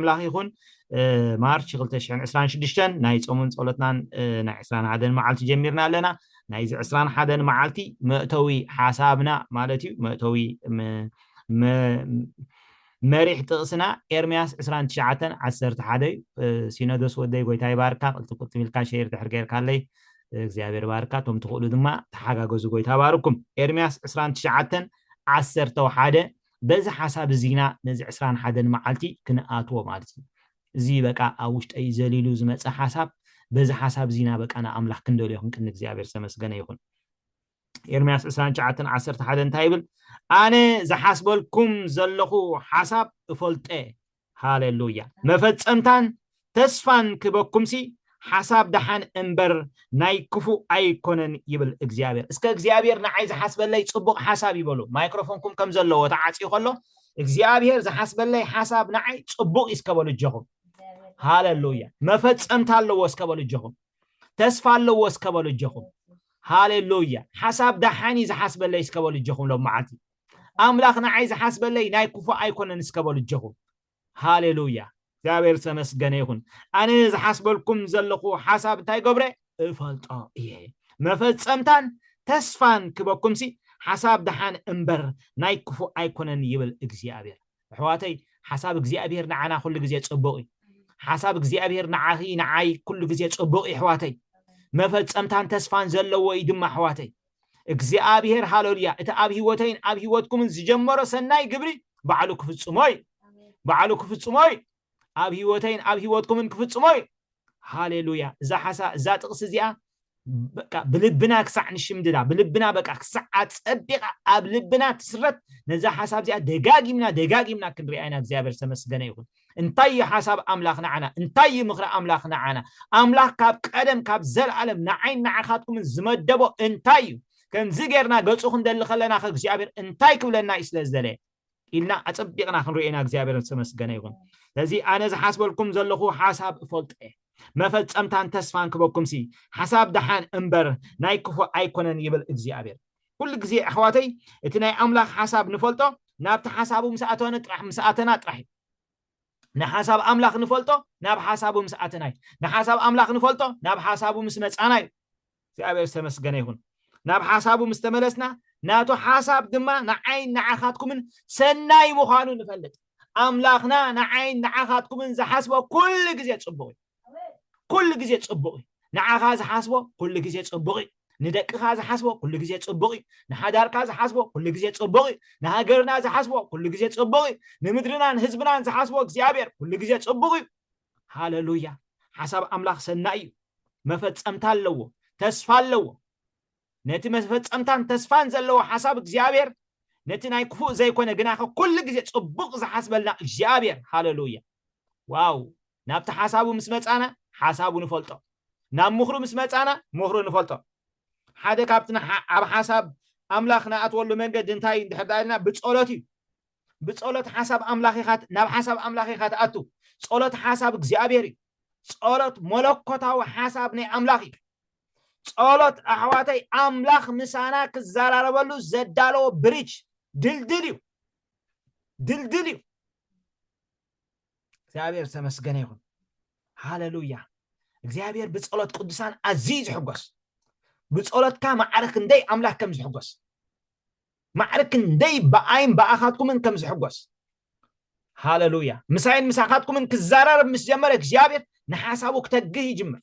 ኣምላኽ ይኹን ማርች ክልተ ሽሕን ዕስራን ሽዱሽተን ናይ ጾምን ጸሎትናን ናይ ዕስራን ሓደን መዓልቲ ጀሚርና ኣለና ናይዚ ዕስራን ሓደን መዓልቲ መእተዊ ሓሳብና ማለት እዩ መእተዊ መሪሕ ጥቕስና ኤርምያስ 29 11 እዩ ሲኖዶስ ወደይ ጎይታ ይባርካ ቅልጥፍ ቅልጥፍ ኢልካ ሸይር ድሕር ጌርካለይ እግዚኣብሔር ባርካ እቶም ትኽእሉ ድማ ተሓጋገዙ ጎይታ ባርኩም ኤርምያስ 29 11 በዚ ሓሳብ እዚ ኢና ነዚ ዕስራን ሓደን መዓልቲ ክንኣትዎ ማለት እዩ። እዚ በቃ ኣብ ውሽጠይ ዘሊሉ ዝመጸ ሓሳብ በዚ ሓሳብ እዚ ኢና በቃ ንኣምላኽ ክንደልዮ ክንቅኒ እግዚኣብሔር ዝተመስገነ ይኹን። ኤርምያስ ዕስራን ትሽዓተን ዓሰርተ ሓደ እንታይ ይብል ኣነ ዝሓስበልኩም ዘለኹ ሓሳብ እፈልጦ እየ ሃሌሉያ መፈጸምታን ተስፋን ክበኩምሲ ሓሳብ ደሓን እምበር ናይ ክፉእ ኣይኮነን ይብል እግዚኣብሔር እስከ እግዚኣብሔር ንዓይ ዝሓስበለይ ጽቡቕ ሓሳብ ይበሉ ማይክሮፎንኩም ከም ዘለዎ ተዓጽዩ ከሎ እግዚኣብሔር ዝሓስበለይ ሓሳብ ንዓይ ጽቡቕ እዩ እስከ በሉ እጀኹም ሃሌሉያ መፈጸምታ ኣለዎ እስከ በሉ እጀኹም ተስፋ ኣለዎ እስከ በሉ እጀኹም ሃሌሉያ ሓሳብ ደሓን እዩ ዝሓስበለይ እስከ በሉ እጀኹም ሎም መዓልቲ ኣምላኽ ንዓይ ዝሓስበለይ ናይ ክፉእ ኣይኮነን እስከ በሉ እጀኹም ሃሌሉያ እግዚኣብሔር ዝተመስገነ ይኹን ኣነ ዝሓስበልኩም ዘለኹ ሓሳብ እንታይ ገብረ እፈልጦ እየ መፈጸምታን ተስፋን ክበኩምሲ ሓሳብ ደሓን እምበር ናይ ክፉእ ኣይኮነን ይብል እግዚኣብሔር ኣሕዋተይ ሓሳብ እግዚኣብሔር ንዓና ኩሉ ግዜ ጽቡቕ እዩ ሓሳብ እግዚኣብሔር ንዓኺ ንዓይ ኩሉ ግዜ ጽቡቕ ይሕዋተይ መፈጸምታን ተስፋን ዘለዎ እዩ ድማ ኣሕዋተይ እግዚኣብሄር ሃለሉያ እቲ ኣብ ህይወተይን ኣብ ህይወትኩምን ዝጀመሮ ሰናይ ግብሪ ባዕሉ ክፍጽሞ እዩ ባዕሉ ክፍጽሞ እዩ ኣብ ህይወተይን ኣብ ህይወትኩምን ክፍጽሞ እዩ ሃሌሉያ እዛ ሓሳ እዛ ጥቕሲ እዚኣ በቃ ብልብና ክሳዕ ንሽምድዳ ብልብና በቃ ክሳዕ ኣጸቢቓ ኣብ ልብና ትስረት ነዛ ሓሳብ እዚኣ ደጋጊምና ደጋጊምና ክንሪኣ ኢና እግዚኣብሔር ዝተመስገነ ይኹን እንታይ እዩ ሓሳብ ኣምላኽ ንዓና? እንታይ እዩ ምኽሪ ኣምላኽ ንዓና? ኣምላኽ ካብ ቀደም ካብ ዘለኣለም ንዓይን ንዓኻትኩምን ዝመደቦ እንታይ እዩ? ከምዚ ጌርና ገጹ ክንደሊ ከለናኸ እግዚኣብሔር እንታይ ክብለና እዩ ስለ ዝደለየ? ኢልና ኣጸቢቕና ክንርእዮ ኢና እግዚኣብሔር ዝተመስገነ ይኹን። ስለዚ ኣነ ዝሓስበልኩም ዘለኹ ሓሳብ እፈልጦ እየ መፈጸምታን ተስፋን ክበኩምሲ ሓሳብ ደሓን እምበር ናይ ክፉእ ኣይኮነን ይብል እግዚኣብሔር። ኩሉ ግዜ ኣሕዋተይ እቲ ናይ ኣምላኽ ሓሳብ ንፈልጦ ናብቲ ሓሳቡ ምስ ኣተነ ጥራሕ ምስ ኣተና ጥራሕ እዩ ንሓሳብ ኣምላኽ ንፈልጦ ናብ ሓሳቡ ምስ ኣተና እዩ ንሓሳብ ኣምላኽ ንፈልጦ ናብ ሓሳቡ ምስ መጻና እዩ እግዚኣብሔር ዝተመስገነ ይኹን ናብ ሓሳቡ ምስ ተመለስና ናቱ ሓሳብ ድማ ንዓይን ንዓኻትኩምን ሰናይ ምዃኑ ንፈልጥ ኣምላኽና ንዓይን ንዓኻትኩምን ዝሓስቦ ኩሉ ግዜ ጽቡቕ እዩ ኩሉ ግዜ ጽቡቕ እዩ ንዓኻ ዝሓስቦ ኩሉ ግዜ ጽቡቕ እዩ ንደቅኻ ዝሓስቦ ኩሉ ግዜ ጽቡቕ እዩ ንሓዳርካ ዝሓስቦ ኩሉ ግዜ ጽቡቕ እዩ ንሃገርና ዝሓስቦ ኩሉ ግዜ ጽቡቕ እዩ ንምድርናን ህዝብናን ዝሓስቦ እግዚኣብሔር ኩሉ ግዜ ጽቡቕ እዩ ሃለሉያ ሓሳብ ኣምላኽ ሰናይ እዩ መፈጸምታ ኣለዎ ተስፋ ኣለዎ ነቲ መፈጸምታን ተስፋን ዘለዎ ሓሳብ እግዚኣብሔር ነቲ ናይ ክፉእ ዘይኮነ ግናኸ ኩሉ ግዜ ጽቡቕ ዝሓስበልና እግዚኣብሔር ሃለሉያ ዋው ናብቲ ሓሳቡ ምስ መጻና ሓሳቡ ንፈልጦ ናብ ምኽሩ ምስ መጻና ምኽሩ ንፈልጦ ሓደ ካብቲ ንሓ ኣብ ሓሳብ ኣምላኽ ንኣትወሉ መንገዲ እንታይ እንድሕር ደኣ ኢልና ብጸሎት እዩ ብጸሎት ሓሳብ ኣምላኽ ኢኻ ናብ ሓሳብ ኣምላኽ ኢኻ ትኣቱ ጸሎት ሓሳብ እግዚኣብሔር እዩ ጸሎት መለኮታዊ ሓሳብ ናይ ኣምላኽ እዩ ጸሎት ኣሕዋተይ ኣምላኽ ምሳና ክዘራረበሉ ዘዳለዎ ብሪጅ ድልድል እዩ ድልድል እዩ እግዚኣብሔር ዝተመስገነ ይኹን ሃለሉያ እግዚኣብሔር ብፀሎት ቅዱሳን ኣዝዩ ዝሕጎስ ብፀሎትካ ማዕረ ክንደይ ኣምላክ ከም ዝሕጎስ ማዕረ ክንደይ ብኣይን ብኣኻትኩምን ከም ዝሕጎስ ሃለሉያ ምሳይን ምሳኻትኩምን ክዘራረብ ምስ ጀመረ እግዚኣብሔር ንሓሳቡ ክተግህ ይጅምር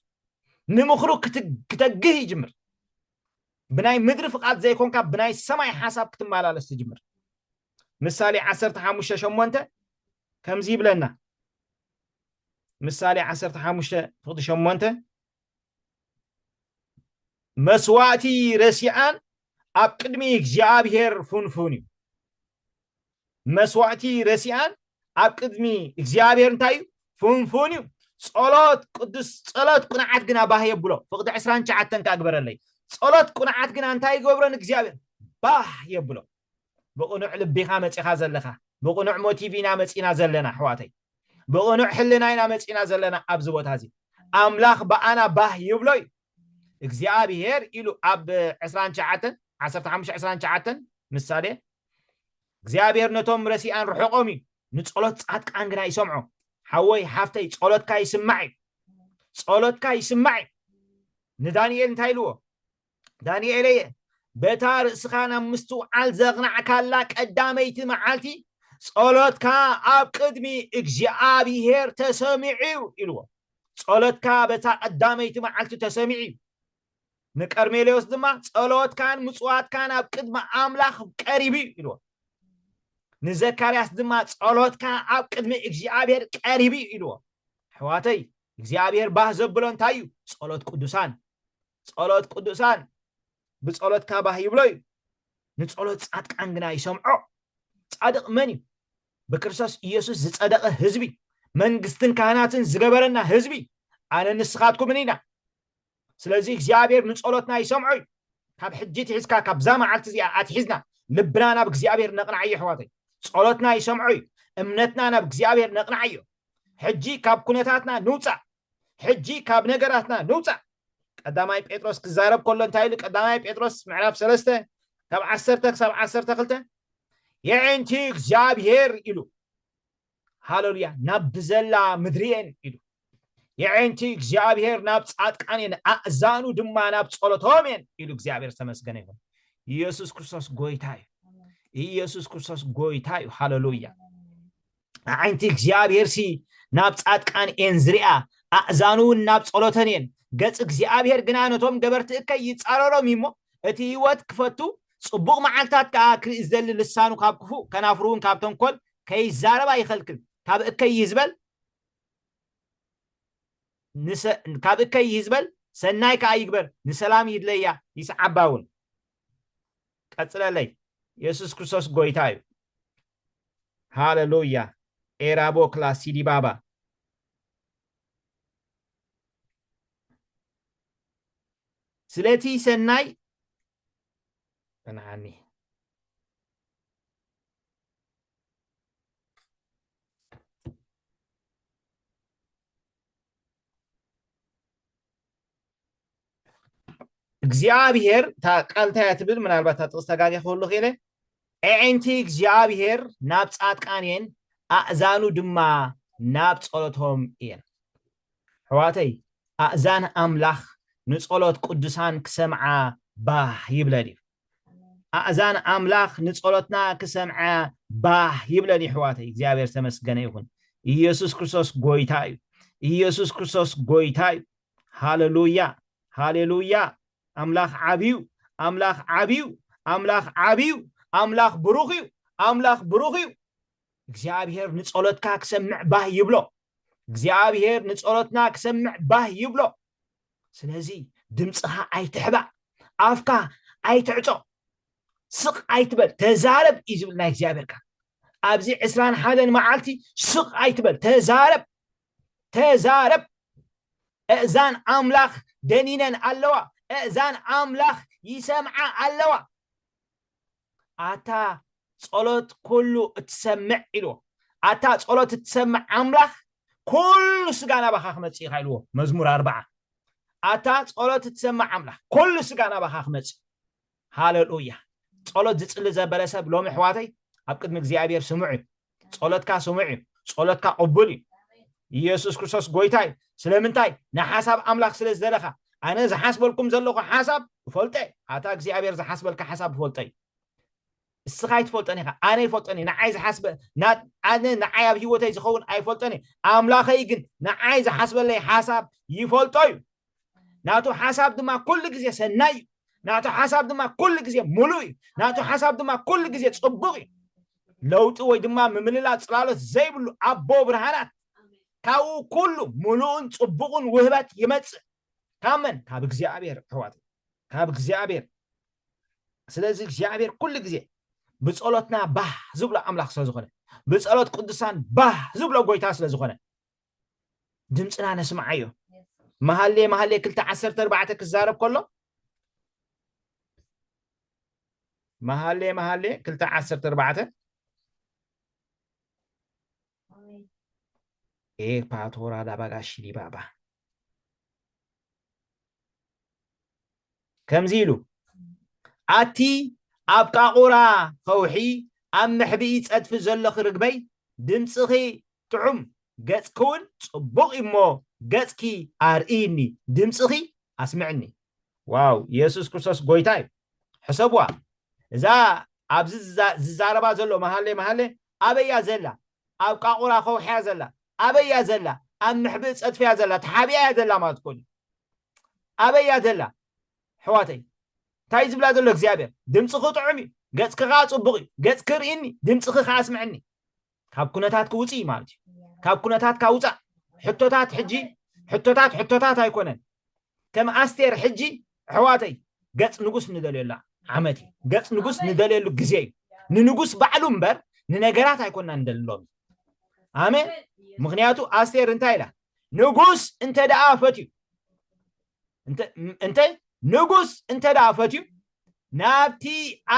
ንምኽሩ ክተግህ ይጅምር ብናይ ምድሪ ፍቓድ ዘይኮንካ ብናይ ሰማይ ሓሳብ ክትመላለስ ትጅምር ምሳሌ ዓሰርተ ሓሙሽተ ሸሞንተ ከምዚ ይብለና ምሳሌ ዓሰርተ ሓሙሽተ ፍቕዲ ሸሞንተ መስዋእቲ ረሲኣን ኣብ ቅድሚ እግዚኣብሄር ፍንፉን እዩ መስዋእቲ ረሲኣን ኣብ ቅድሚ እግዚኣብሄር እንታይ እዩ ፍንፉን እዩ ጸሎት ቅዱስ ጸሎት ቅንዓት ግና ባህ የብሎ ፍቕዲ ዕስራን ሸዓተን ክኣ ግበረለይ ጸሎት ቅንዓት ግና እንታይ ይገብሮ ንእግዚኣብሄር ባህ የብሎ ብቅኑዕ ልቢካ መጺካ ዘለካ ብቅኑዕ ሞቲቭ ኢና መጺና ዘለና ኣሕዋተይ ብቅኑዕ ሕልና ኢና መጺና ዘለና ኣብዚ ቦታ እዚ ኣምላክ ብኣና ባህ ይብሎ እዩ እግዚኣብሄር ኢሉ ኣብ ዕስራን ትሽዓተን ዓሰርተ ሓሙሽተ ዕስራን ትሽዓተን ምሳሌ እግዚኣብሄር ነቶም ረሲኣን ርሑቆም እዩ ንጸሎት ጻድቃን ግና ይሰምዖ ሓወይ ሓፍተይ ጸሎትካ ይስማዕ እዩ ጸሎትካ ይስማዕ እዩ ንዳንኤል እንታይ ኢልዎ ዳንኤለየ፣ በታ ርእስኻ ናብ ምስትውዓል ዘቕናዕካላ ቀዳመይቲ መዓልቲ፣ ጸሎትካ ኣብ ቅድሚ እግዚኣብሄር ተሰሚዑ'ዩ ኢልዎ። ጸሎትካ በታ ቀዳመይቲ መዓልቲ ተሰሚዑ'ዩ። ንቀርኔሌዎስ ድማ ጸሎትካን ምጽዋትካን ኣብ ቅድሚ ኣምላኽ ቀሪቡ እዩ ኢልዎ። ንዘካርያስ ድማ ጸሎትካ ኣብ ቅድሚ እግዚኣብሔር ቀሪቡ እዩ ኢልዎ። ኣሕዋተይ እግዚኣብሔር ባህ ዘብሎ እንታይ እዩ? ጸሎት ቅዱሳን። ጸሎት ቅዱሳን ብጸሎትካ ባህ ይብሎ እዩ፣ ንጸሎት ጻድቃን ግና ይሰምዖ። ጻድቕ መን እዩ? ብክርስቶስ ኢየሱስ ዝጸደቐ ህዝቢ፣ መንግስትን ካህናትን ዝገበረና ህዝቢ ኣነ ንስኻትኩምን ኢና። ስለዚ እግዚኣብሔር ንጸሎትና ይሰምዖ እዩ። ካብ ሕጂ ትሒዝካ ካብዛ መዓልቲ እዚኣ ኣትሒዝና ልብና ናብ እግዚኣብሔር ነቕናዓዮ ኣሕዋተይ። ጸሎትና ይሰምዖ እዩ። እምነትና ናብ እግዚኣብሔር ነቕናዓዮ። ሕጂ ካብ ኩነታትና ንውጻእ፣ ሕጂ ካብ ነገራትና ንውጻእ። ቀዳማይ ጴጥሮስ ክዛረብ ከሎ እንታይ ኢሉ? ቀዳማይ ጴጥሮስ ምዕራፍ ሰለስተ ካብ ዓሰርተ ክሳብ ዓሰርተ ክልተ የዒንቲ እግዚኣብሄር ኢሉ ሃለሉያ ናብ ብዘላ ምድሪ እየን ኢሉ የዒንቲ እግዚኣብሄር ናብ ጻድቃን እየን ኣእዛኑ ድማ ናብ ጸሎቶም እየን ኢሉ እግዚኣብሄር ዝተመስገነ ይኹን። ኢየሱስ ክርስቶስ ጎይታ እዩ። ኢየሱስ ክርስቶስ ጎይታ እዩ። ሃለሉያ ኣዒንቲ እግዚኣብሄርሲ ናብ ጻድቃን እየን ዝርኣ፣ ኣእዛኑውን ናብ ጸሎተን እየን። ገጽ እግዚኣብሄር ግና ነቶም ገበርቲ እከይ ይጻረሮም እዩ እሞ፣ እቲ ህይወት ክፈቱ ጽቡቕ መዓልትታት ከኣ ክርኢ ዝደሊ ልሳኑ ካብ ክፉእ ከናፍሩውን ካብ ተንኰል ከይዛረባ ይኸልክል። ካብ እከይ ይህዝበል ንሰ ካብ እከይ ይህዝበል ሰናይ ከኣ ይግበር፣ ንሰላም ይድለያ ይስዓባውን። ቀጽለለይ የሱስ ክርስቶስ ጎይታ እዩ ሃለሉያ ኤራቦ ክላ ሲዲባባ ስለቲ ሰናይ ተናዓኒ እግዚኣብሔር እታ ቃል እንታይ እያ ትብል ምናልባት እታ ጥቕስ ተጋግየ ክህሉ ክኢለ ኣዒንቲ እግዚኣብሔር ናብ ጻድቃን እየን ኣእዛኑ ድማ ናብ ጸሎቶም እየን ኣሕዋተይ ኣእዛን ኣምላኽ ንጸሎት ቅዱሳን ክሰምዓ ባህ ይብለን እዩ ኣእዛን ኣምላኽ ንጸሎትና ክሰምዐ ባህ ይብለን እዩ ኣሕዋተይ እግዚኣብሔር ተመስገነ ይኹን ኢየሱስ ክርስቶስ ጎይታ እዩ ኢየሱስ ክርስቶስ ጎይታ እዩ ሃለሉያ ሃሌሉያ ኣምላኽ ዓብዩ ኣምላኽ ዓብዩ ኣምላኽ ዓብዩ ኣምላኽ ብሩኽ እዩ ኣምላኽ ብሩኽ እዩ እግዚኣብሔር ንጸሎትካ ክሰምዕ ባህ ይብሎ እግዚኣብሔር ንጸሎትና ክሰምዕ ባህ ይብሎ ስለዚ ድምፅኻ ኣይትሕባእ ኣፍካ ኣይትዕጾ ስቕ ኣይትበል ተዛረብ እዩ ዝብል ናይ እግዚኣብሔር ቃል ኣብዚ ዕስራን ሓደን መዓልቲ ስቕ ኣይትበል ተዛረብ ተዛረብ እእዛን ኣምላኽ ደኒነን ኣለዋ እእዛን ኣምላኽ ይሰምዓ ኣለዋ ኣታ ጸሎት ኩሉ እትሰምዕ ኢልዎ ኣታ ጸሎት እትሰምዕ ኣምላኽ ኩሉ ስጋ ናባኻ ክመጽእ ኢኻ ኢልዎ መዝሙር ኣርባዓ ኣታ ጸሎት እትሰምዕ ኣምላኽ ኩሉ ስጋ ናባኻ ክመጽእ ሃለሉያ ጸሎት ዝጽሊ ዘበለ ሰብ ሎሚ ኣሕዋተይ ኣብ ቅድሚ እግዚኣብሔር ስሙዕ እዩ ጸሎትካ ስሙዕ እዩ ጸሎትካ ቅቡል እዩ ኢየሱስ ክርስቶስ ጎይታ እዩ ስለምንታይ ንሓሳብ ኣምላኽ ስለ ዝደለኻ ኣነ ዝሓስበልኩም ዘለኹ ሓሳብ እፈልጦ ኣታ እግዚኣብሔር ዝሓስበልካ ሓሳብ እፈልጦ እዩ እስኻ ኣይትፈልጦን ኢኻ ኣነ ይፈልጦን እየ ንዓይ ዝሓስበ ኣነ ንዓይ ኣብ ሂወተይ ዝኸውን ኣይፈልጦን እየ ኣምላኸይ ግን ንዓይ ዝሓስበለይ ሓሳብ ይፈልጦ እዩ ናቱ ሓሳብ ድማ ኩሉ ግዜ ሰናይ እዩ ናቱ ሓሳብ ድማ ኩሉ ግዜ ሙሉእ እዩ ናቱ ሓሳብ ድማ ኩሉ ግዜ ፅቡቕ እዩ ለውጢ ወይ ድማ ምምልላእ ፅላሎት ዘይብሉ ኣቦ ብርሃናት ካብኡ ኩሉ ሙሉእን ፅቡቕን ውህበት ይመፅእ ካብ መን ካብ እግዚኣብሔር ኣሕዋት ካብ እግዚኣብሔር ስለዚ እግዚኣብሔር ኩሉ ግዜ ብጸሎትና ባህ ዝብሎ ኣምላኽ ስለ ዝኾነ ብጸሎት ቅዱሳን ባህ ዝብሎ ጎይታ ስለ ዝኾነ ድምፅና ነስምዓዮ መሃሌ መሃሌ ክልተ ዓሰርተ ኣርባዕተ ክዛረብ ከሎ መሃሌ መሃሌ ክልተ ዓሰርተ ኣርባዕተ E patora da bagashi di baba. ከምዚ ኢሉ ኣቲ ኣብ ቃቑራ ኸውሒ ኣብ መሕብኢ ጸድፊ ዘሎኺ ርግበይ ድምጽኺ ጥዑም ገጽኪውን ጽቡቕ እዩሞ ገጽኪ ኣርእይኒ ድምጽኺ ኣስምዕኒ ዋው የሱስ ክርስቶስ ጎይታ እዩ ሕሰብዋ እዛ ኣብዚ ዝዛረባ ዘሎ መሃሌ መሃሌ ኣበያ ዘላ ኣብ ቃቑራ ከውሕያ ዘላ ኣበያ ዘላ ኣብ ምሕብእ ፀጥፍያ ዘላ ተሓቢኣ እያ ዘላ ማለት ኮን ኣበያ ዘላ ሕዋተይ እንታይ ዝብላ ዘሎ እግዚኣብሔር ድምፅኺ ጥዑም እዩ ገፅኪ ከዓ ፅቡቅ እዩ ገፅኪ ርእኒ ድምፅኺ ከዓ ስምዕኒ ካብ ኩነታት ክውፅእ እዩ ማለት እዩ ካብ ኩነታት ካውፃእ ሕቶታት ሕጂ ሕቶታት ሕቶታት ኣይኮነን ከም ኣስቴር ሕጂ ኣሕዋተይ ገፅ ንጉስ ንደልየላ ዓመት እዩ ገፅ ንጉስ ንደልየሉ ግዜ እዩ ንንጉስ ባዕሉ እምበር ንነገራት ኣይኮና ንደልሎም ኣሜን ምክንያቱ ኣስቴር እንታይ ኢላ ንጉስ እንተ ደኣ ፈትዩ እንተ ንጉስ እንተ ደኣ ፈትዩ ናብቲ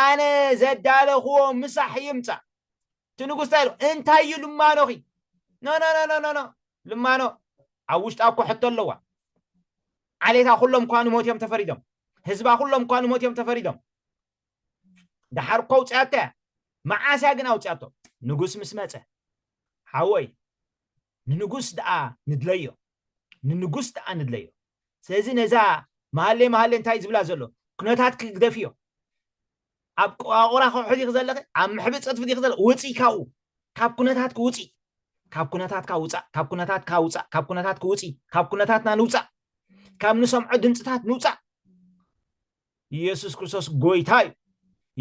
ኣነ ዘዳለኽዎ ምሳሕ ይምፃእ እቲ ንጉስ እንታይ ኢሉ? እንታይ እዩ ልማኖኺ? ኖኖኖኖኖ ልማኖ ኣብ ውሽጣ እኮ ሕቶ ኣለዋ። ዓሌታ ኩሎም እኳ ንሞት እዮም ተፈሪዶም። ህዝባ ኩሎም እኳ ንሞት እዮም ተፈሪዶም። ደሓር እኮ ኣውፅኣቶ እያ። መዓስ እያ ግን ኣውፅኣቶ? ንጉስ ምስ መፀ ሓወይ ንንጉስ ደኣ ንድለዮ ንንጉስ ደኣ ንድለዮ። ስለዚ ነዛ መሃሌ መሃሌ እንታይ ዝብላ ዘሎ ኩነታት ክግደፍ እዮ። ኣብ ቆዋቑራ ከውሒ ዲኺ ዘለኺ ኣብ ምሕብእ ጽድፊ ዲኺ ዘለ ውፅኢ ካብኡ ካብ ኩነታትኪ ውፅኢ ካብ ኩነታትካ ውፃእ ካብ ኩነታትካ ውፃእ ካብ ኩነታትኪ ውፅኢ ካብ ኩነታትና ንውፃእ ካብ ንሰምዖ ድምፅታት ንውፃእ ኢየሱስ ክርስቶስ ጎይታ እዩ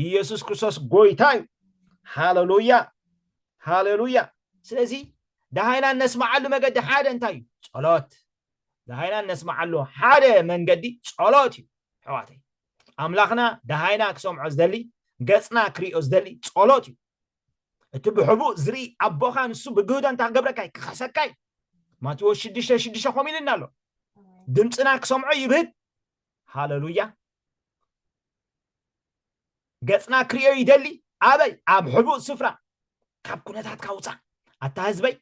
ኢየሱስ ክርስቶስ ጎይታ እዩ ሃሌሉያ ሃሌሉያ ስለዚ ደሃይና እነስማዓሉ መገዲ ሓደ እንታይ እዩ ጸሎት ደሃይና እነስማዓሉ ሓደ መንገዲ ጸሎት እዩ ኣሕዋተይ ኣምላኽና ደሃይና ክሰምዖ ዝደሊ፣ ገጽና ክርእዮ ዝደሊ ጸሎት እዩ። እቲ ብሕቡእ ዝርኢ ኣቦኻ ንሱ ብግህዶ እንታይ ክገብረካ እዩ? ክኸሰካ እዩ። ማቴዎስ ሽዱሽተ ሽዱሽተ ከምኡ ኢሉና ኣሎ። ድምፅና ክሰምዖ ይብህግ። ሃለሉያ። ገጽና ክርእዮ ይደሊ። ኣበይ? ኣብ ሕቡእ ስፍራ። ካብ ኩነታትካ ውፃእ። ኣታ ህዝበይ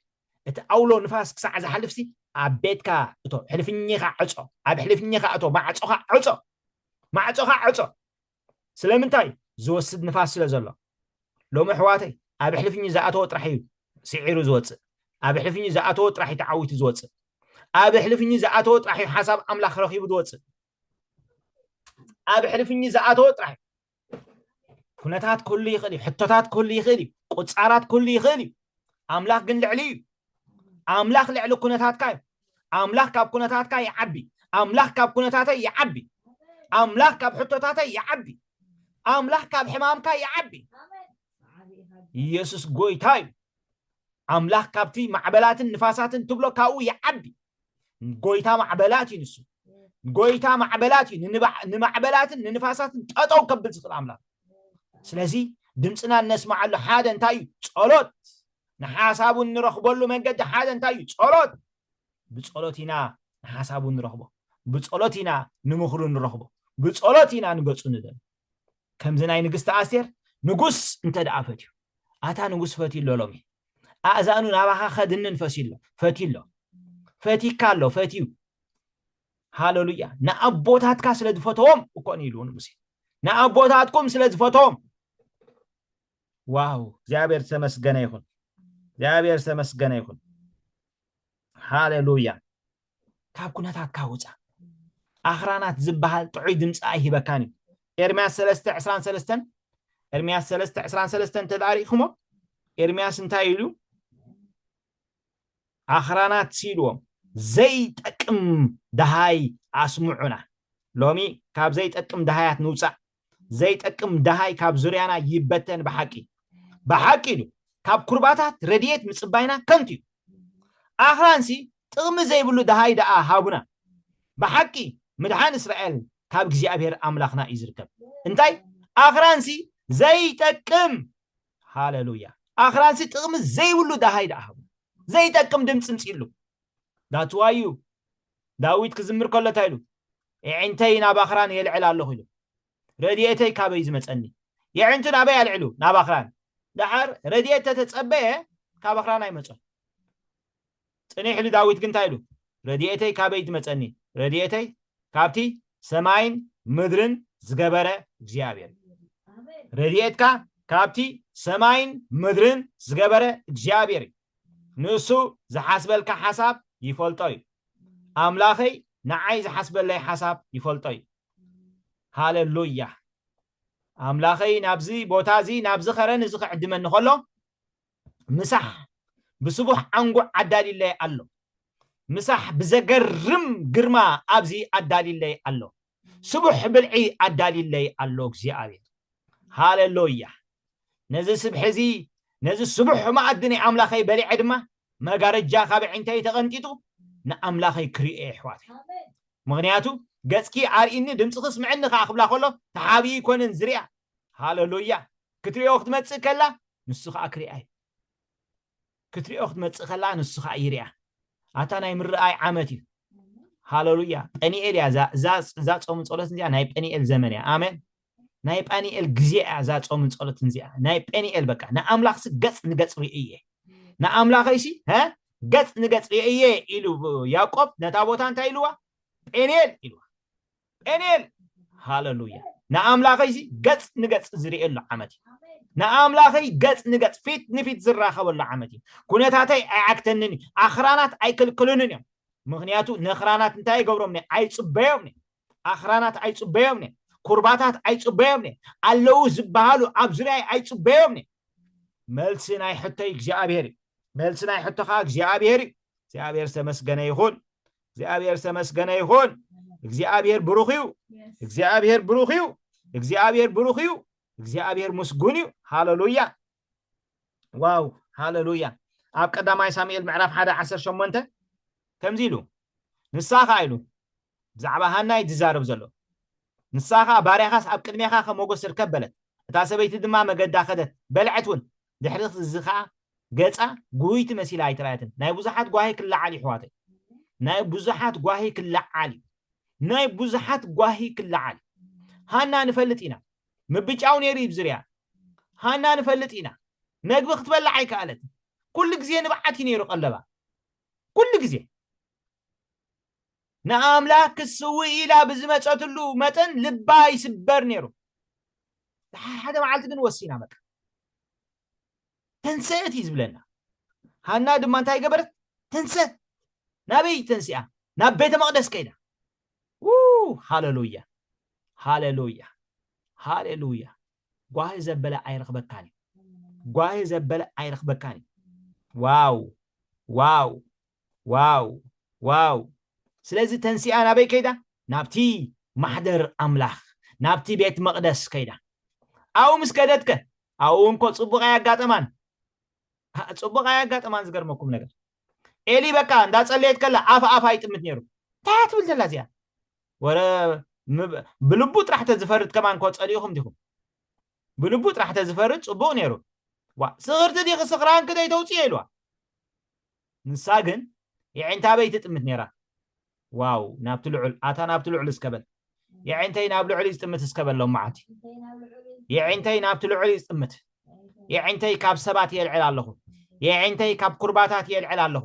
እቲ ኣውሎ ንፋስ ክሳዕ ዝሓልፍሲ ኣብ ቤትካ እቶ ሕልፍኚኻ ዕጾ ኣብ ሕልፍኚኻ እቶ ማዕጾኻ ዕጾ ማዕጾኻ ዕጾ ስለምንታይ ዝወስድ ንፋስ ስለ ዘሎ ሎሚ ኣሕዋተይ ኣብ ሕልፍኚ ዝኣተወ ጥራሕ እዩ ስዒሩ ዝወጽእ ኣብ ሕልፍኚ ዝኣተወ ጥራሕ እዩ ተዓዊቱ ዝወጽእ ኣብ ሕልፍኚ ዝኣተወ ጥራሕ እዩ ሓሳብ ኣምላኽ ረኺቡ ዝወጽእ ኣብ ሕልፍኚ ዝኣተወ ጥራሕ እዩ ኩነታት ክህሉ ይኽእል እዩ ሕቶታት ክህሉ ይኽእል እዩ ቁፃራት ክህሉ ይኽእል እዩ ኣምላኽ ግን ልዕሊ እዩ ኣምላኽ ልዕሊ ኩነታትካ እዩ ኣምላኽ ካብ ኩነታትካ ይዓቢ ኣምላኽ ካብ ኩነታተይ ይዓቢ ኣምላኽ ካብ ሕቶታተይ ይዓቢ ኣምላኽ ካብ ሕማምካ ይዓቢ ኢየሱስ ጎይታ እዩ ኣምላኽ ካብቲ ማዕበላትን ንፋሳትን ትብሎ ካብኡ ይዓቢ ጎይታ ማዕበላት እዩ ንሱ ጎይታ ማዕበላት እዩ ንማዕበላትን ንንፋሳትን ጠጠው ከብል ዝኽእል ኣምላኽ ስለዚ ድምፅና እነስማዓሉ ሓደ እንታይ እዩ ጸሎት ንሓሳቡ እንረኽበሉ መንገዲ ሓደ እንታይ እዩ ጸሎት ብጸሎት ኢና ንሓሳቡ ንረኽቦ ብጸሎት ኢና ንምኽሩ ንረኽቦ ብጸሎት ኢና ንገጹ ንደል ከምዚ ናይ ንግስቲ ኣስቴር ንጉስ እንተ ደኣ ፈትዩ ኣታ ንጉስ ፈትዩ ኣሎ ሎሚ ኣእዛኑ ናባኻ ከድንን ፈስዩ ኣሎ ፈትዩ ኣሎ ፈቲካ ኣሎ ፈትዩ ሃለሉያ ንኣቦታትካ ስለ ዝፈተዎም እኮ ንኢሉ ንሙሴ ንኣቦታትኩም ስለ ዝፈተዎም ዋው እግዚኣብሔር ተመስገነ ይኹን እግዚኣብሔር ተመስገነ ይኹን ሃሌሉያ ካብ ኩነታትካ ውፃእ ኣኽራናት ዝበሃል ጥዑይ ድምፂ ኣይሂበካን እዩ ኤርምያስ 3 23 ኤርምያስ 3 23 እንተዳሪእኹሞ ኤርምያስ እንታይ ኢሉ ኣኽራናት ሲኢልዎም ዘይጠቅም ደሃይ ኣስምዑና ሎሚ ካብ ዘይጠቅም ደሃያት ንውፃእ ዘይጠቅም ደሃይ ካብ ዙርያና ይበተን ብሓቂ እዩ ብሓቂ እዩ ካብ ኩርባታት ረድኤት ምጽባይና ከንቱ እዩ ኣኽራንሲ ጥቕሚ ዘይብሉ ደሃይ ደኣ ሃቡና ብሓቂ ምድሓን እስራኤል ካብ እግዚኣብሔር ኣምላኽና እዩ ዝርከብ እንታይ ኣኽራንሲ ዘይጠቅም ሃለሉያ ኣኽራንሲ ጥቕሚ ዘይብሉ ደሃይ ደኣ ሃቡና ዘይጠቅም ድምፂ ምፅሉ ዳትዋዩ ዳዊት ክዝምር ከሎ እንታይ ኢሉ? የዒንተይ ናብ ኣኽራን የልዕል ኣሎኹ ኢሉ። ረድኤተይ ካበይ እዩ ዝመጸኒ? የዒንቱ ናበይ ኣልዒሉ? ናብ ኣኽራን። ደሓር ረድኤት ተተጸበየ ካብ ኣኽራን ኣይመጾን። ጽኒሕ ኢሉ ዳዊት ግን እንታይ ኢሉ? ረድኤተይ ካበይ ትመጸኒ? ረድኤተይ ካብቲ ሰማይን ምድርን ዝገበረ እግዚኣብሔር እዩ። ረድኤትካ ካብቲ ሰማይን ምድርን ዝገበረ እግዚኣብሔር እዩ። ንሱ ዝሓስበልካ ሓሳብ ይፈልጦ እዩ ኣምላኸይ ንዓይ ዝሓስበለይ ሓሳብ ይፈልጦ እዩ ሃለሉያ ኣምላኸይ ናብዚ ቦታ እዚ ናብዚ ኸረን እዚ ክዕድመኒ ከሎ ምሳሕ ብስቡሕ ዓንጉዕ ኣዳሊለይ ኣሎ ምሳሕ ብዘገርም ግርማ ኣብዚ ኣዳሊለይ ኣሎ ስቡሕ ብልዒ ኣዳሊለይ ኣሎ እግዚኣብሔር ሃለሎያ ነዚ ስብሒ እዚ ነዚ ስቡሕ መኣዲ ናይ ኣምላኸይ በሊዐ ድማ መጋረጃ ካብ ኣዒንተይ ተቐንጢጡ ንኣምላኸይ ክርእዮ የሕዋተይ ምኽንያቱ ገጽኪ ኣርእኒ ድምፅኺ ስምዕኒ ከዓ ክብላ ከሎ ተሓብኢ ይኮንን ዝርያ ሃለሎያ ክትርእዮ ክትመፅእ ከላ ንሱ ከዓ ክርኣይ ክትሪኦ ክትመጽእ ከላ ንሱ ከኣ ይሪኣ ኣታ ናይ ምርኣይ ዓመት እዩ ሃለሉያ ጰኒኤል እያ እዛ ጾምን ጸሎትን እዚኣ ናይ ጰኒኤል ዘመን እያ ኣሜን ናይ ጳኒኤል ግዜ እያ እዛ ጾምን ጸሎትን እዚኣ ናይ ጴኒኤል በቃ ንኣምላኽሲ ገጽ ንገጽ ርኢ እየ ንኣምላኸይሲ ገጽ ንገጽ ርኢ እየ ኢሉ ያዕቆብ ነታ ቦታ እንታይ ኢልዋ ጴኒኤል ኢልዋ ጴንኤል ሃለሉያ ንኣምላኸይሲ ገጽ ንገጽ ዝርእየሉ ዓመት እዩ ንኣምላኸይ ገጽ ንገጽ ፊት ንፊት ዝራኸበሉ ዓመት እዩ ኩነታተይ ኣይዓግተንን እዩ ኣኽራናት ኣይክልክሉንን እዮም ምክንያቱ ነኽራናት እንታይ ይገብሮም ነ ኣይጽበዮም ነ ኣኽራናት ኣይጽበዮም ነ ኩርባታት ኣይጽበዮም ነ ኣለዉ ዝበሃሉ ኣብ ዙርያይ ኣይጽበዮም ነ መልሲ ናይ ሕቶይ እግዚኣብሄር እዩ መልሲ ናይ ሕቶኻ እግዚኣብሄር እዩ እግዚኣብሄር ዝተመስገነ ይኹን እግዚኣብሔር ዝተመስገነ ይኹን እግዚኣብሔር ብሩኽ እዩ እግዚኣብሔር ብሩኽ እዩ እግዚኣብሔር ብሩኽ እዩ እግዚኣብሔር ምስጉን እዩ ሃለሉያ ዋው ሃለሉያ ኣብ ቀዳማይ ሳሙኤል ምዕራፍ ሓደ ዓሰርተ ሸሞንተ ከምዚ ኢሉ ንሳ ከዓ ኢሉ ብዛዕባ ሃና እዩ ዝዛረብ ዘሎ ንሳ ከዓ ባርያኻስ ኣብ ቅድሜኻ ከም ሞገስ ርከብ በለት እታ ሰበይቲ ድማ መገዳ ከደት በልዐት እውን ድሕሪ እዚ ከኣ ገጻ ጉህይቲ መሲላ ኣይተራእየትን። ናይ ብዙሓት ጓሂ ክለዓል እዩ ኣሕዋተይ። ናይ ብዙሓት ጓሂ ክለዓል እዩ። ናይ ብዙሓት ጓሂ ክለዓል ሃና ንፈልጥ ኢና ምብጫው ነይሩ እዩ ዝርያ ሃና ንፈልጥ ኢና መግቢ ክትበላዕ ኣይከኣለትን ኩሉ ግዜ ንብዓት እዩ ነይሩ ቀለባ ኩሉ ግዜ ንኣምላኽ ክትስውእ ኢላ ብዝመጸትሉ መጠን ልባ ይስበር ነይሩ። ሓደ መዓልቲ ግን ወሲና በቃ ተንሰእት እዩ ዝብለና። ሃና ድማ እንታይ ገበረት? ተንሰት። ናበይ ተንሲኣ? ናብ ቤተ መቕደስ ከይዳ። ሃለሉያ ሃለሉያ ሃለሉያ። ጓሂ ዘበለ ኣይረኽበካን እዩ። ጓሂ ዘበለ ኣይረኽበካን እዩ። ዋው ዋው ዋው ዋው ስለዚ ተንሲኣ ናበይ ከይዳ ናብቲ ማሕደር ኣምላኽ ናብቲ ቤት መቕደስ ከይዳ ኣብኡ ምስ ከደትከ ኣብኡ እንኮ ጽቡቕ ኣያጋጠማን ጽቡቕ ኣያጋጠማን ዝገርመኩም ነገር ኤሊ በቃ እንዳጸለየት ከላ ኣፍ ኣፍ ኣይጥምት ነይሩ እንታይ እያ ትብል ዘላ እዚኣ ወረ ብልቡ ጥራሕ ተዝፈርድ ከማን ኮ ጸሊኢኹም ዲኹም ብልቡ ጥራሕ ተዝፈርድ ጽቡቕ ነይሩ ዋ ስኽርቲ ዲኺ ስኽራንኪ ደይተውፅዮ ኢልዋ ንሳ ግን የዒንታ ኣበይ ትጥምት ነይራ? ዋው ናብቲ ልዑል ኣታ ናብቲ ልዑል እስከ በል የዒንተይ ናብ ልዑል እዩ ዝጥምት እስከ በል ሎማዓንቲ የዒንተይ ናብቲ ልዑል እዩ ዝጥምት የዒንተይ ካብ ሰባት የልዕል ኣለኹ የዒንተይ ካብ ኩርባታት የልዕል ኣለኹ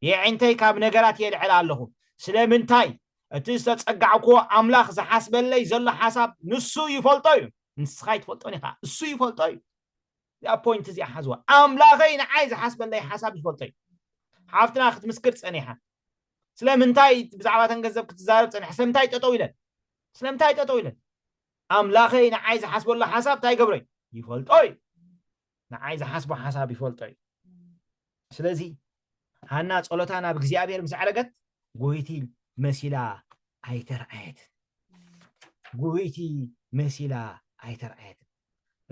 የዒንተይ ካብ ነገራት የልዕል ኣለኹ ስለምንታይ እቲ ዝተጸጋዕኩዎ ኣምላኽ ዝሓስበለይ ዘሎ ሓሳብ ንሱ ይፈልጦ እዩ ንስኻ ይትፈልጦን ኢኻ እሱ ይፈልጦ እዩ እዚኣ ፖይንት እዚኣ ሓዝዋ ኣምላኸይ ንዓይ ዝሓስበለይ ሓሳብ ዝፈልጦ እዩ ሓፍትና ክትምስክር ጸኒሓ ስለምንታይ ብዛዕባ ተን ገንዘብ ክትዛረብ ጸኒሓ ስለምንታይ ጠጠው ኢለን ስለምንታይ ጠጠው ኢለን ኣምላኸይ ንዓይ ዝሓስበሉ ሓሳብ እንታይ ገብሮ እዩ ይፈልጦ እዩ ንዓይ ዝሓስቦ ሓሳብ ይፈልጦ እዩ ስለዚ ሃና ጸሎታ ናብ እግዚኣብሔር ምስ ኣዕረገት ጎይቲ መሲላ ኣይተርኣየትን ጎይቲ መሲላ ኣይተርኣየትን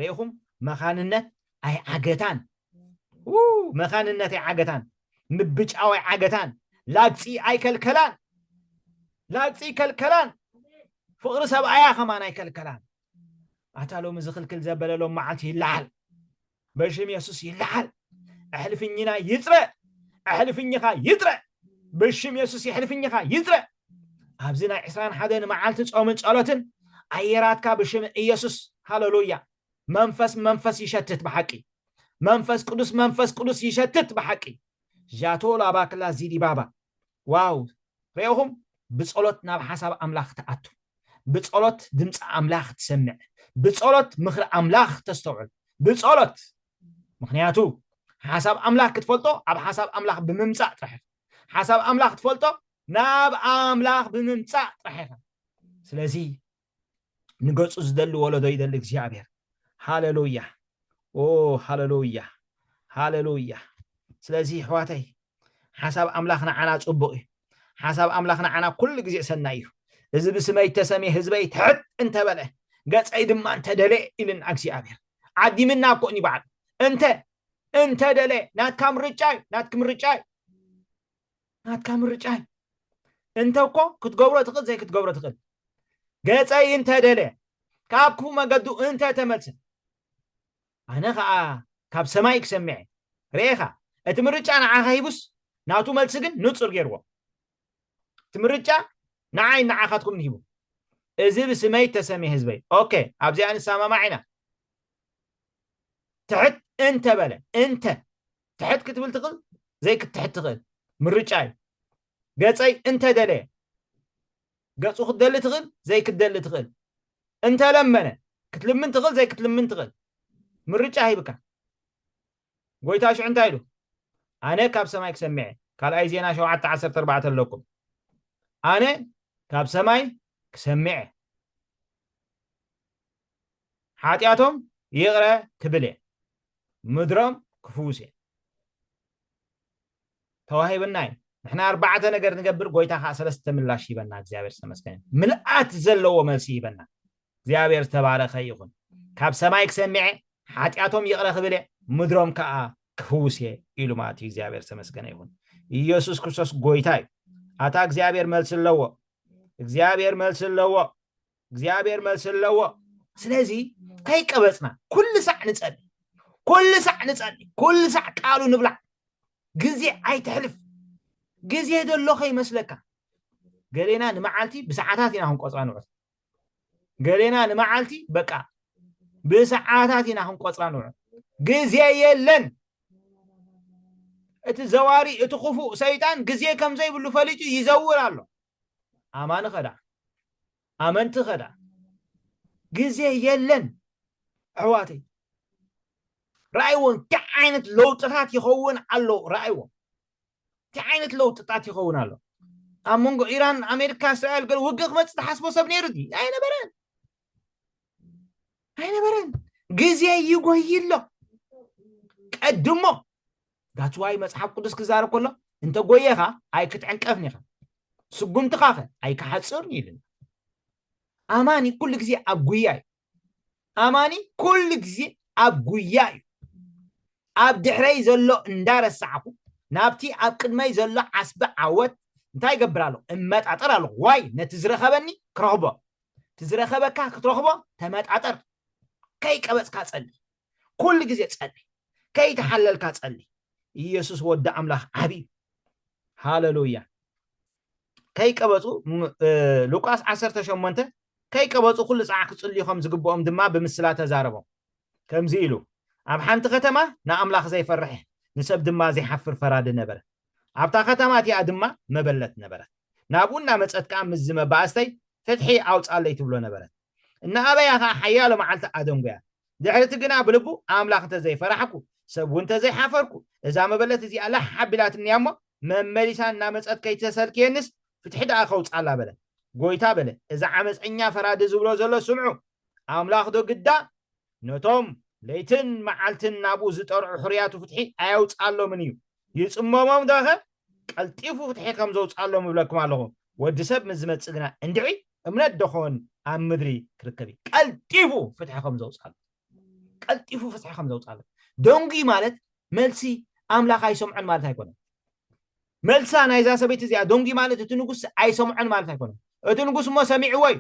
ርኢኹም መኻንነት ኣይዓገታን መኻንነት ኣይዓገታን ምብጫው ኣይዓገታን ላግፂ ኣይከልከላን ላግፂ ይከልከላን ፍቕሪ ሰብኣያ ከማን ኣይከልከላን ኣታ ሎሚ ዝኽልክል ዘበለ ሎም መዓልቲ ይለዓል በሽም የሱስ ይለዓል ኣሕልፍኝና ይፅረ ኣሕልፍኝኻ ይፅረ በሽም የሱስ የሕልፍኝኻ ይፅረ ኣብዚ ናይ ዕስራን ሓደን መዓልቲ ጾምን ጸሎትን ኣየራትካ ብሽም ኢየሱስ ሃለሉያ መንፈስ መንፈስ ይሸትት ብሓቂ መንፈስ ቅዱስ መንፈስ ቅዱስ ይሸትት ብሓቂ ዣቶ ላባክላ ዚዲባባ ዋው ሬእኹም ብጸሎት ናብ ሓሳብ ኣምላኽ ትኣቱ ብጸሎት ድምጺ ኣምላኽ ትሰምዕ ብጸሎት ምኽሪ ኣምላኽ ተስተውዕል ብጸሎት ምኽንያቱ ሓሳብ ኣምላኽ ክትፈልጦ ኣብ ሓሳብ ኣምላኽ ብምምጻእ ጥራሕ ኢኻ ሓሳብ ኣምላኽ ትፈልጦ ናብ ኣምላኽ ብምምጻእ ጥራሕ ኢኻ ስለዚ ንገጹ ዝደሊ ወለዶ ይደሊ እግዚኣብሔር ሃለሉያ ኦ ሃለሉያ ሃለሉያ ስለዚ ኣሕዋተይ ሓሳብ ኣምላኽ ንዓና ጽቡቕ እዩ ሓሳብ ኣምላኽ ንዓና ኩሉ ግዜ ሰናይ እዩ እዚ ብስመይ እተሰምየ ህዝበይ ትሕት እንተበለ ገጸይ ድማ እንተደለ ኢልና እግዚኣብሔር ዓዲምና እኮ እዩ በዓል እንተ እንተደለ ናትካ ምርጫ እዩ ናትኪ ምርጫ እዩ ናትካ ምርጫ እዩ እንተ እኮ ክትገብሮ ትኽእል ዘይክትገብሮ ትኽእል ገጸይ እንተ ደለየ ካብ ክፉእ መገዱ እንተ ተመልሰ ኣነ ከዓ ካብ ሰማይ ክሰምዐ ርኤኻ እቲ ምርጫ ንዓኻ ሂቡስ ናቱ መልሲ ግን ንጹር ገይርዎ እቲ ምርጫ ንዓይ ንዓኻትኩም ንሂቡ እዚ ብስመይ ተሰሚ ህዝበይ ኦኬ ኣብዚኣ ንሰማማዕ ኢና ትሕት እንተ በለ እንተ ትሕት ክትብል ትኽእል ዘይክትሕት ትኽእል ምርጫ እዩ ገፀይ እንተደለየ ገፁ ክትደሊ ትኽእል ዘይክትደሊ ትኽእል እንተለመነ ክትልምን ትኽእል ዘይክትልምን ትኽእል ምርጫ ሂብካ ጎይታ ሽዑ እንታይ ኢሉ ኣነ ካብ ሰማይ ክሰሚዐ ካልኣይ ዜና ሸውዓተ ዓሰርተ ኣርባዕተ ኣለኩም ኣነ ካብ ሰማይ ክሰሚዐ ሓጢኣቶም ይቕረ ክብል እየ፣ ምድሮም ክፍውስ እየ። ተዋሂብና እዩ። ንሕና ኣርባዕተ ነገር ንገብር፣ ጎይታ ከዓ ሰለስተ ምላሽ ይበና። እግዚኣብሔር ዝተመስገነ ምልኣት ዘለዎ መልሲ ይበና። እግዚኣብሔር ዝተባረኸ ይኹን። ካብ ሰማይ ክሰሚዐ ሓጢኣቶም ይቕረ ክብል እየ፣ ምድሮም ከዓ ክፍውስ እየ ኢሉ ማለት እዩ። እግዚኣብሔር ዝተመስገነ ይኹን። ኢየሱስ ክርስቶስ ጎይታ እዩ። ኣታ እግዚኣብሔር መልሲ ኣለዎ። እግዚኣብሔር መልሲ ኣለዎ። እግዚኣብሔር መልሲ ኣለዎ ስለዚ ከይቀበፅና ኩሉ ሳዕ ንፀሊ ኩሉ ሳዕ ንፀሊ ኩሉ ሳዕ ቃሉ ንብላዕ ግዜ ኣይትሕልፍ ግዜ ደሎ ከይመስለካ ገሌና ንመዓልቲ ብሰዓታት ኢና ክንቆፅራ ንዑት ገሌና ንመዓልቲ በቃ ብሰዓታት ኢና ክንቆፅራ ንዑት ግዜ የለን እቲ ዘዋሪ እቲ ክፉእ ሰይጣን ግዜ ከም ዘይብሉ ፈሊጡ ይዘውር ኣሎ ኣማኒ ከዳዕ ኣመንቲ ከዳዕ ግዜ የለን ኣሕዋተይ ራእይዎ እንታይ ዓይነት ለውጥታት ይኸውን ኣሎ ራእይዎ እንታይ ዓይነት ለውጥታት ይኸውን ኣሎ ኣብ መንጎ ኢራን ኣሜሪካ እስራኤል ገለ ውግእ ክመፅእ ዝሓስቦ ሰብ ነይሩ ድዩ ኣይነበረን ኣይነበረን ግዜ ይጎይ ኣሎ ቀድሞ That's why መጽሓፍ ቅዱስ ክዛረብ ከሎ እንተ ጎየኻ ኣይክትዕንቀፍን ኢኻ ስጉምትኻ ከ ኣይክሓጽርን እዩ ኢሉና ኣማኒ ኩሉ ግዜ ኣብ ጉያ እዩ ኣማኒ ኩሉ ግዜ ኣብ ጉያ እዩ ኣብ ድሕረይ ዘሎ እንዳረሳዕኹ ናብቲ ኣብ ቅድመይ ዘሎ ዓስቢ ዓወት እንታይ ይገብር ኣለኹ እመጣጠር ኣለኹ ዋይ ነቲ ዝረኸበኒ ክረኽቦ እቲ ዝረኸበካ ክትረኽቦ ተመጣጠር ከይቀበፅካ ፀሊ ኩሉ ግዜ ጸሊ ከይተሓለልካ ጸሊ ኢየሱስ ወዲ ኣምላኽ ዓብዩ ሃለሉያ ከይቀበጹ ሉቃስ 18 ከይቀበጹ ኩሉ ጻዕ ክጽልዩ ከም ዝግብኦም ድማ ብምስላ ተዛረቦም ከምዚ ኢሉ ኣብ ሓንቲ ከተማ ንኣምላኽ ዘይፈርሕ ንሰብ ድማ ዘይሓፍር ፈራዲ ነበረ ኣብታ ከተማ እቲኣ ድማ መበለት ነበረት ናብኡ እናመፀት ከዓ ምስ ዝመባእስተይ ፍትሒ ኣውፃለይ ትብሎ ነበረት እናኣበያ ኸኣ ሓያሎ መዓልቲ ኣደንጐያ። ድሕሪ እቲ ግና ብልቡ፣ ኣምላኽ እንተ ዘይፈራሕኩ፣ ሰብ እውን እንተ ዘይሓፈርኩ፣ እዛ መበለት እዚኣ ላሕ ኣቢላትኒ እያ እሞ፣ መመሊሳ እናመጸት ከይተሰልክየኒስ፣ ፍትሒ ደኣ ከውጽኣላ በለ። ጐይታ በለ፣ እዚ ዓመጸኛ ፈራዲ ዝብሎ ዘሎ ስምዑ፣ ኣምላኽዶ ግዳ ነቶም ለይትን መዓልትን ናብኡ ዝጠርዑ ሕሩያቱ ፍትሒ ኣየውጽኣሎምን እዩ። ይጽመሞም ዶኸ? ቀልጢፉ ፍትሒ ከም ዘውጽኣሎም እብለኩም ኣለኹ። ወዲ ሰብ ምስ ዝመጽእ ግና እንድዒ እምነት ዶኾን ኣብ ምድሪ ክርከብ እዩ? ቀልጢፉ ፍትሒ ከም ዘውጽኣሎም። ቀልጢፉ ፍትሒ ከም ዘውጽኣሎም። ደንጒ ማለት መልሲ ኣምላኽ ኣይሰምዖን ማለት ኣይኮነን። መልሳ ናይዛ ሰበይቲ እዚኣ ደንጒ ማለት እቲ ንጉስ ኣይሰምዖን ማለት ኣይኮነን። እቲ ንጉስ እሞ ሰሚዕዎ እዩ።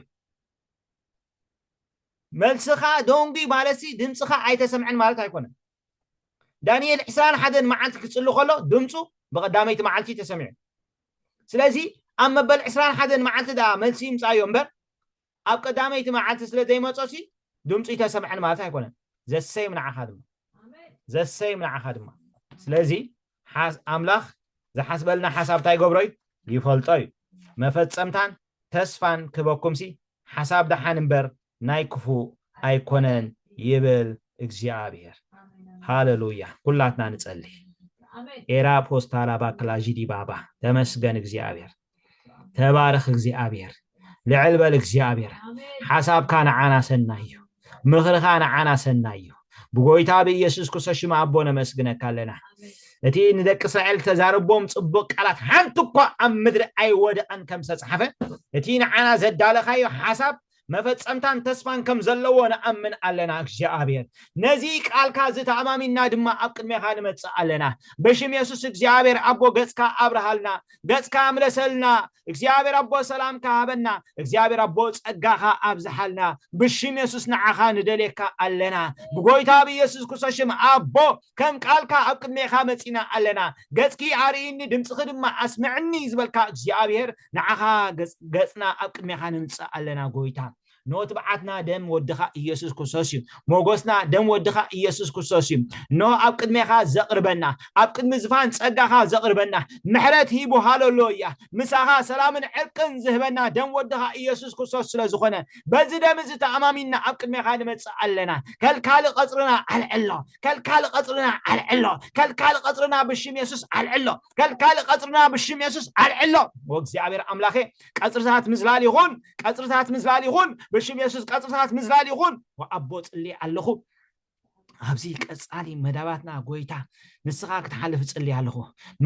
መልስኻ ደንጒዩ ማለትሲ ድምጽኻ ኣይተሰምዐን ማለት ኣይኮነን። ዳንኤል ዕስራን ሓደን መዓልቲ ክጽሊ ከሎ ድምጹ ብቐዳመይቲ መዓልቲ ተሰሚዑ። ስለዚ ኣብ መበል ዕስራን ሓደን መዓልቲ ደኣ መልሲ ይምጻዮ እምበር ኣብ ቀዳመይቲ መዓልቲ ስለ ዘይመጾሲ ድምጹ ይተሰምዐን ማለት ኣይኮነን። ዘሰይም ንዓኻ ድማ ዘሰይም ንዓኻ ድማ ስለዚ ሓስ ኣምላኽ ዝሓስበልና ሓሳብ እንታይ ይገብሮ እዩ ይፈልጦ እዩ መፈጸምታን ተስፋን ክበኩምሲ ሓሳብ ደሓን እምበር ናይ ክፉእ ኣይኮነን ይብል እግዚኣብሔር ሃለሉያ ኩላትና ንጸልይ ኤራ ፖስታላ ባክላ ዢዲ ባባ ተመስገን እግዚኣብሔር ተባረኽ እግዚኣብሔር ልዕል በል እግዚኣብሔር ሓሳብካ ንዓና ሰናይ እዩ ምኽርኻ ንዓና ሰናይ እዩ ብጎይታ ብኢየሱስ ክርስቶስ ሽም ኣቦ ነመስግነካ ኣለና እቲ ንደቂ እስራኤል ተዛረቦም ጽቡቅ ቃላት ሓንቲ እኳ ኣብ ምድሪ ኣይወደቐን ከም ዝተጻሓፈ እቲ ንዓና ዘዳለኻዮ ሓሳብ መፈጸምታን ተስፋን ከም ዘለዎ ንኣምን ኣለና እግዚኣብሔር ነዚ ቃልካ እዚ ተኣማሚንና ድማ ኣብ ቅድሜኻ ንመጽእ ኣለና ብሽም የሱስ እግዚኣብሔር ኣቦ ገጽካ ኣብርሃልና ገጽካ ምለሰልና እግዚኣብሔር ኣቦ ሰላምካ ሃበና እግዚኣብሔር ኣቦ ጸጋኻ ኣብዝሓልና ብሽም የሱስ ንዓኻ ንደልየካ ኣለና ብጎይታ ብኢየሱስ ክርስቶስ ሽም ኣቦ ከም ቃልካ ኣብ ቅድሜኻ መጺና ኣለና ገጽኪ ኣርእይኒ ድምጽኺ ድማ ኣስምዕኒ ዝበልካ እግዚኣብሔር ንዓኻ ገጽና ኣብ ቅድሜኻ ነምጽእ ኣለና ጎይታ እንሆ ትብዓትና ደም ወድኻ ኢየሱስ ክርስቶስ እዩ ሞጎስና ደም ወድኻ ኢየሱስ ክርስቶስ እዩ እንሆ ኣብ ቅድሜኻ ዘቕርበና ኣብ ቅድሚ ዝፋን ጸጋኻ ዘቕርበና ምሕረት ሂቡ ሃለሎያ ምሳኻ ሰላምን ዕርቅን ዝህበና ደም ወድኻ ኢየሱስ ክርስቶስ ስለ ዝኾነ በዚ ደም እዚ ተኣማሚንና ኣብ ቅድሜኻ ንመጽእ ኣለና ከልካሊ ቀጽርና ኣልዕሎ ከልካሊ ቀጽርና ኣልዕሎ ከልካሊ ቀጽርና ብሽም የሱስ ኣልዕሎ ከልካሊ ቀጽርና ብሽም የሱስ ኣልዕሎ ኦ እግዚኣብሔር ኣምላኬ ቀጽርታት ምዝላል ይኹን ቀጽርታት ምዝላል ይኹን ብሽም የሱስ ቀጽርታት ምዝላል ይኹን ኣቦ ጽልይ ኣለኹ ኣብዚ ቀፃሊ መዳባትና ጎይታ ንስኻ ክትሓልፍ እፅልይ ኣለኹ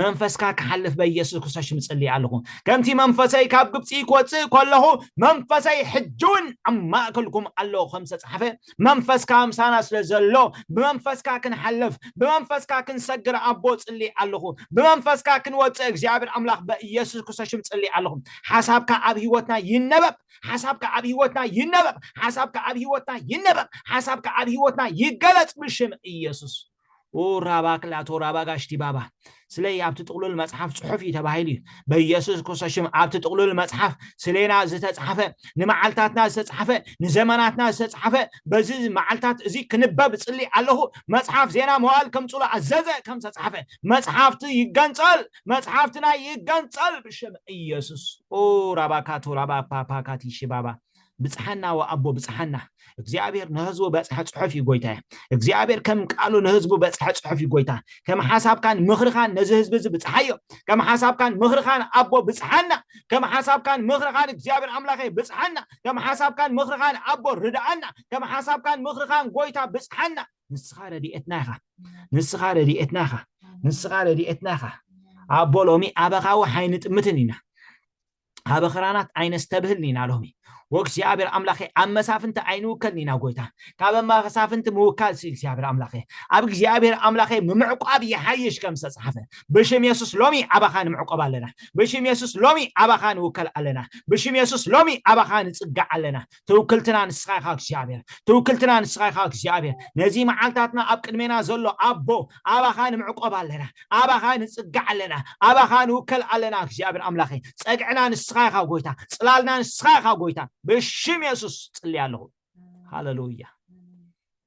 መንፈስካ ክሓልፍ በኢየሱስ ክርስቶስ ሽም እፅልይ ኣለኹ ከምቲ መንፈሰይ ካብ ግብፂ ክወፅእ ከለኹ መንፈሰይ ሕጂ እውን ኣብ ማእከልኩም ኣሎ ከም ዝተፅሓፈ መንፈስካ ምሳና ስለ ዘሎ ብመንፈስካ ክንሓልፍ ብመንፈስካ ክንሰግር ኣቦ ጽሊ ኣለኹ ብመንፈስካ ክንወጽእ እግዚኣብሔር ኣምላኽ በኢየሱስ ክርስቶስ ሽም ጽሊ ኣለኹ ሓሳብካ ኣብ ህይወትና ይነበብ ሓሳብካ ኣብ ህይወትና ይነበብ ሓሳብካ ኣብ ህይወትና ይነበብ ሓሳብካ ኣብ ህይወትና ይገለጽ ብሽም ኢየሱስ ኡር ራባ ክላቶ ራባ ጋሽቲ ባባ ስለይ ኣብቲ ጥቕሉል መጽሓፍ ጽሑፍ እዩ ተባሂሉ እዩ በኢየሱስ ክርስቶስ ሽም ኣብቲ ጥቕሉል መጽሓፍ ስሌና ዝተጻሕፈ ንመዓልታትና ዝተጻሕፈ ንዘመናትና ዝተጻሕፈ በዚ መዓልታት እዚ ክንበብ ጽሊ ኣለኹ መጽሓፍ ዜና መዋል ከምጽሎ ኣዘዘ ከም ዝተጻሕፈ መጽሓፍቲ ይገንጸል መጽሓፍትና ይገንጸል ብሽም ኢየሱስ ኡራባካቶ ራባ ፓፓካቲሺ ባባ ብጽሓና ወኣቦ ብጽሓና እግዚኣብሔር ንህዝቡ በጽሐ ጽሑፍ እዩ ጎይታየ እግዚኣብሔር ከም ቃሉ ንህዝቡ በጽሐ ጽሑፍ እዩ ጎይታ ከም ሓሳብካን ምኽርኻን ነዚ ህዝቢ እዚ ብጽሓዮ ከም ሓሳብካን ምኽርኻን ኣቦ ብጽሓና ከም ሓሳብካን ምኽርኻን እግዚኣብሔር ኣምላኸ ብጽሓና ከም ሓሳብካን ምኽርኻን ኣቦ ርድኣና ከም ሓሳብካን ምኽርኻን ጎይታ ብጽሓና ንስኻ ረድኤትና ኢኻ ንስኻ ረድኤትና ኢኻ ንስኻ ረድኤትና ኢኻ ኣቦ ሎሚ ኣበኻዊ ሓይንጥምትን ኢና ሀበ ኽራናት ኣይነስተብህል ኒና ሎሚ ወእግዚኣብሔር ኣምላኬ ኣብ መሳፍንቲ ኣይንውከል ኒና ጎይታ ካበ መሳፍንቲ ምውካል ሲ እግዚኣብሔር ኣምላኬ ኣብ እግዚኣብሔር ኣምላኬ ምምዕቋብ ይሓይሽ ከም ዝተጻሕፈ ብሽም የሱስ ሎሚ ኣባኻ ንምዕቆብ ኣለና ብሽም የሱስ ሎሚ ኣባኻ ንውከል ኣለና ብሽም የሱስ ሎሚ ኣባኻ ንጽጋዕ ኣለና ትውክልትና ንስኻ ኢኻ እግዚኣብሔር ትውክልትና ንስኻ ኢኻ እግዚኣብሔር ነዚ መዓልታትና ኣብ ቅድሜና ዘሎ ኣቦ ኣባኻ ንምዕቆብ ኣለና ኣባኻ ንጽጋዕ ኣለና ኣባኻ ንውከል ኣለና እግዚኣብሔር ኣምላኸ ጸግዕና ንስኻ ኢኻ ጎይታ ጽላልና ንስኻ ኢኻ ጎይታ ብሽም የሱስ ጽልያ ኣለኹ ሃለሉያ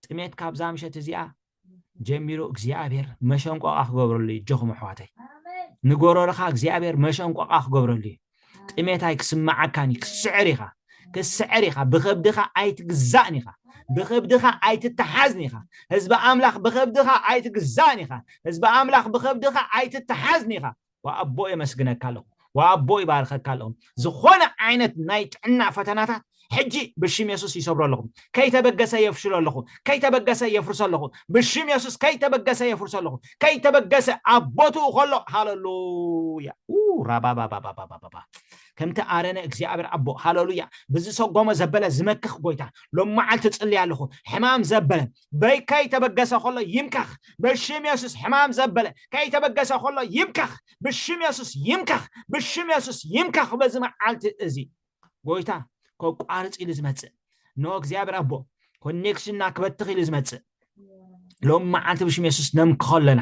ጥሜት ካብዛ ምሸት እዚኣ ጀሚሩ እግዚኣብሔር መሸንቆቃ ክገብረሉ እዩ ጆኹም ኣሕዋተይ ንጎረርኻ እግዚኣብሔር መሸንቆቃ ክገብረሉ እዩ ጥሜት ኣይ ክስምዓካን እዩ ክስዕር ኢኻ ክስዕር ኢኻ ብኸብድኻ ኣይትግዛእን ኢኻ ብኸብድኻ ኣይትተሓዝን ኢኻ ህዝቢ ኣምላኽ ብኸብድኻ ኣይትግዛእን ኢኻ ህዝቢ ኣምላኽ ብኸብድኻ ኣይትተሓዝን ኢኻ ወኣቦ የመስግነካ ኣለኹ ወኣቦ ይባርኸካ ኣለኹ ዝኾነ ዓይነት ናይ ጥዕና ፈተናታት ሕጂ ብሽም የሱስ ይሰብሮ ኣለኹ ከይተበገሰ የፍሽሎ ኣለኹ ከይተበገሰ የፍርሶ ኣለኹ ብሽም የሱስ ከይተበገሰ የፍርሶ ኣለኹ ከይተበገሰ ኣብ ቦትኡ ከሎ ሃለሉያ ራባባባባባባ ከምቲ ኣረነ እግዚኣብሔር ኣቦ ሃለሉያ ብዝሰጎመ ዘበለ ዝመክኽ ጎይታ ሎም መዓልቲ ጽልያ ኣለኹ ሕማም ዘበለ በይ ከይተበገሰ ከሎ ይምከኽ ብሽም የሱስ ሕማም ዘበለ ከይተበገሰ ከሎ ይምከኽ ብሽም የሱስ ይምከኽ ብሽም የሱስ ይምከኽ በዚ መዓልቲ እዚ ጎይታ ከቋርፅ ኢሉ ዝመፅእ ኖ እግዚኣብሔር ኣቦ ኮኔክሽንና ክበትኽ ኢሉ ዝመፅእ ሎም መዓልቲ ብሽም የሱስ ነምክኾ ኣለና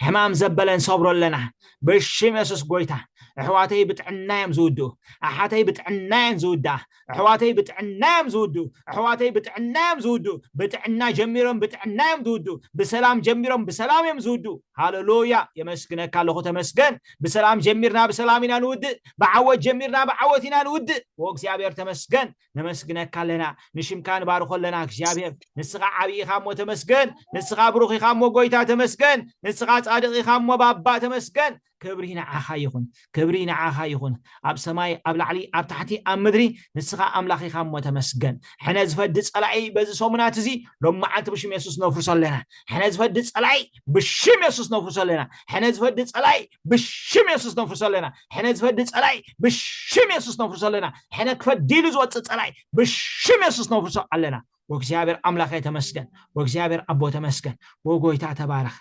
ሕማም ዘበለ ንሰብሮ ኣለና ብሽም የሱስ ጎይታ ኣሕዋተይ ብጥዕና እዮም ዝውድኡ ኣሓተይ ብጥዕና እየን ዝውድኣ ኣሕዋተይ ብጥዕና እዮም ዝውድኡ ኣሕዋተይ ብጥዕና እዮም ዝውድኡ ብጥዕና ጀሚሮም ብጥዕና እዮም ዝውድኡ ብሰላም ጀሚሮም ብሰላም እዮም ዝውድኡ ሃለሉያ የመስግነካ ኣለኹ ተመስገን ብሰላም ጀሚርና ብሰላም ኢና ንውድእ ብዓወት ጀሚርና ብዓወት ኢና ንውድእ ኦ እግዚኣብሔር ተመስገን ነመስግነካ ኣለና ንሽምካ ንባርኾ ኣለና እግዚኣብሔር ንስኻ ዓብዪ ኢኻ እሞ ተመስገን ንስኻ ብሩኽ ኢኻ እሞ ጎይታ ተመስገን ንስኻ ጻድቕ ኢኻ እሞ ባባ ተመስገን ክብሪ ንዓኻ ይኹን ክብሪ ንዓኻ ይኹን ኣብ ሰማይ ኣብ ላዕሊ ኣብ ታሕቲ ኣብ ምድሪ ንስኻ ኣምላኽ ኢኻ እሞ ተመስገን ሕነ ዝፈዲ ጸላኢ በዚ ሰሙናት እዚ ሎም መዓልቲ ብሽም የሱስ ነፍርሶ ኣለና ሕነ ዝፈዲ ጸላኢ ብሽም የሱስ ነፍርሶ ኣለና ሕነ ዝፈዲ ጸላኢ ብሽም የሱስ ነፍርሶ ኣለና ሕነ ዝፈዲ ጸላኢ ብሽም የሱስ ነፍርሶ ኣለና ሕነ ክፈዲሉ ዝወጽእ ጸላኢ ብሽም የሱስ ነፍርሶ ኣለና ወእግዚኣብሔር ኣምላኸ ተመስገን ወእግዚኣብሔር ኣቦ ተመስገን ወጎይታ ተባረኽ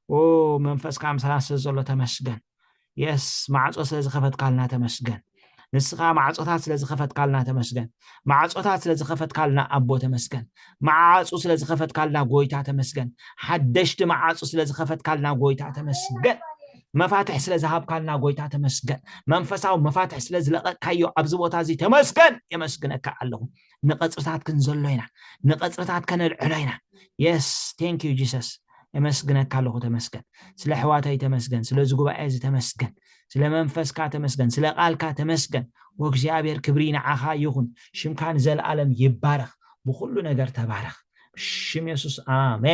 ኦ መንፈስካ ምሳና ስለ ዘሎ ተመስገን የስ ማዕፆ ስለ ዝኸፈትካልና ተመስገን ንስኻ ማዕፆታት ስለ ዝኸፈትካልና ተመስገን ማዕፆታት ስለ ዝኸፈትካልና ኣቦ ተመስገን መዓፁ ስለ ዝኸፈትካልና ጎይታ ተመስገን ሓደሽቲ መዓፁ ስለ ዝኸፈትካልና ጎይታ ተመስገን መፋትሕ ስለ ዝሃብካልና ጎይታ ተመስገን መንፈሳዊ መፋትሕ ስለ ዝለቐካዮ ኣብዚ ቦታ እዚ ተመስገን የመስግነካ ኣለኹ ንቐጽርታት ክንዘሎ ኢና ንቐጽርታት ከነልዕሎ ኢና የስ ቴንክ ዩ ጂሰስ የመስግነካ ኣለኹ ተመስገን ስለ ኣሕዋተይ ተመስገን ስለዚ ጉባኤ እዚ ተመስገን ስለ መንፈስካ ተመስገን ስለ ቃልካ ተመስገን ወእግዚኣብሔር ክብሪ ንዓኻ ይኹን ሽምካ ንዘለኣለም ይባረኽ ብኹሉ ነገር ተባረኽ ብሽም የሱስ ኣሜን